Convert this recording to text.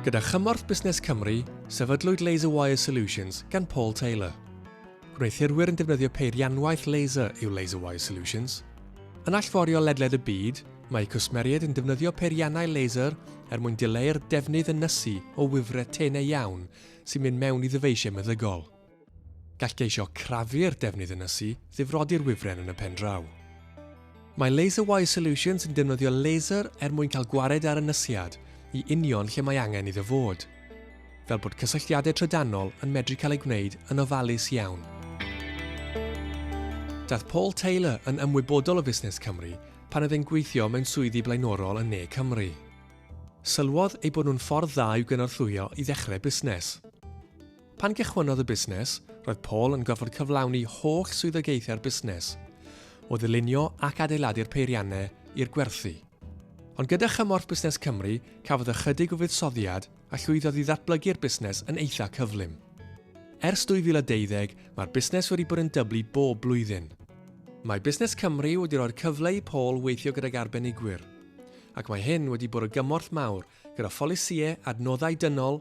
Gyda chymorth Busnes Cymru, sefydlwyd Laser Wire Solutions gan Paul Taylor. Gwneuthurwyr yn defnyddio peirianwaith laser yw Laser Wire Solutions. Yn allforio ledled y byd, mae cwsmeriaid yn defnyddio peiriannau laser er mwyn dileu'r defnydd yn nysu o wifre tenau iawn sy'n mynd mewn i ddyfeisiau meddygol. Gall geisio crafu'r defnydd yn ysu ddifrodi'r wifren yn y pen draw. Mae LaserWire Solutions yn defnyddio laser er mwyn cael gwared ar ynysiad i union lle mae angen iddo fod, fel bod cysylltiadau trydanol yn medru cael eu gwneud yn ofalus iawn. Daeth Paul Taylor yn ymwybodol o fusnes Cymru pan oedd e'n gweithio mewn swyddi blaenorol yn Ne Cymru. Sylwodd ei bod nhw'n ffordd dda i'w gynorthwyo i ddechrau busnes. Pan gychwynnodd y busnes, roedd Paul yn gorfod cyflawni holl swyddogaethau'r busnes, o ddylunio ac adeiladu'r peiriannau i'r gwerthu. Ond gyda chymorth Busnes Cymru, cafodd ychydig o fuddsoddiad a llwyddodd i ddatblygu'r busnes yn eitha' cyflym. Ers 2012, mae'r busnes wedi bod yn dyblu bob blwyddyn. Mae Busnes Cymru wedi rhoi'r cyfle i Paul weithio gydag arbenigwyr, ac mae hyn wedi bod o gymorth mawr gyda pholisïau, adnoddau dynol